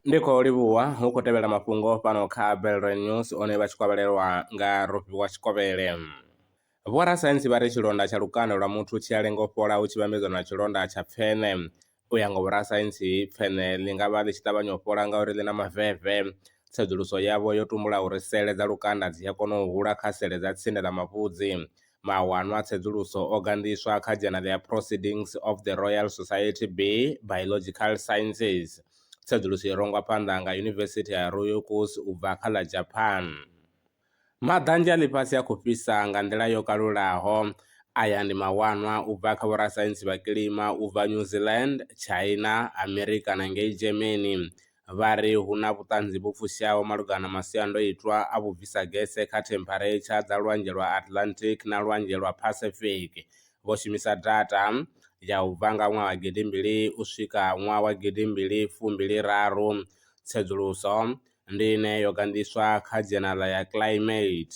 ndi khou livhuwa hu khou tevhela mafhungo fhano kha belre news one vha tshi kovhelelwa nga rofhiwa tshikovhele vhorasaintsi vha ri tshilonda tsha lukanda lwa muthu tshi a lenga u fhola hu tshi vhambedzwa na tshilonda tsha pfene u ya nga vhorasaintsi pfene ḽi nga vha ḽi tshi ṱavhanya u fhola ngauri ḽi na maveve tsedzuluso yavho yo tumbula uri sele dza lukanda dzi a kona u hula kha sele dza tsinde ḽa mavhudzi Mawanwa a tsedzuluso o gandiswa kha Dzhenala ya Proceedings of the Royal Society B, Biological Sciences. Tsedzuluso i rongwa phanḓa nga Yunivesithi ya Ryukyu u bva kha ḽa Japan. Maḓanzhe a ḽifhasi a khou fhisa nga nḓila yo kalulaho. Aya ndi mawanwa u bva kha vhorasaintsi vha kilima u bva New Zealand, China, Amerika na ngei Germany. vha ri hu na vhuṱanzi vhu fushaho malugana na masiandoitwa a vhubvisa gese kha thempharetsha dza Lwanzhe lwa Atlantic na Lwanzhe lwa Pacific. Vho shumisa data ya u bva nga ṅwaha wa gidi mbili u swika ṅwaha wa gidi mbili fumbili raru. Tsedzuluso ndi ine yo gandiswa kha dzhenala ya Climate.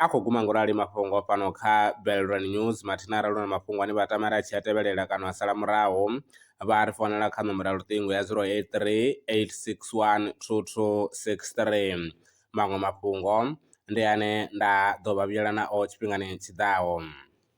A khou guma ngo rali mafhungo fhano kha Belrand News mathina arali hu na mafhungo ane vha tama uri a tshi a tevhelela kana a sala murahu, vha a ri founela kha nomboro ya luṱingo ya 083 861 2263. Maṅwe mafhungo ndi ane nda ḓo vha vhuyela nao tshifhingani tshi ḓaho.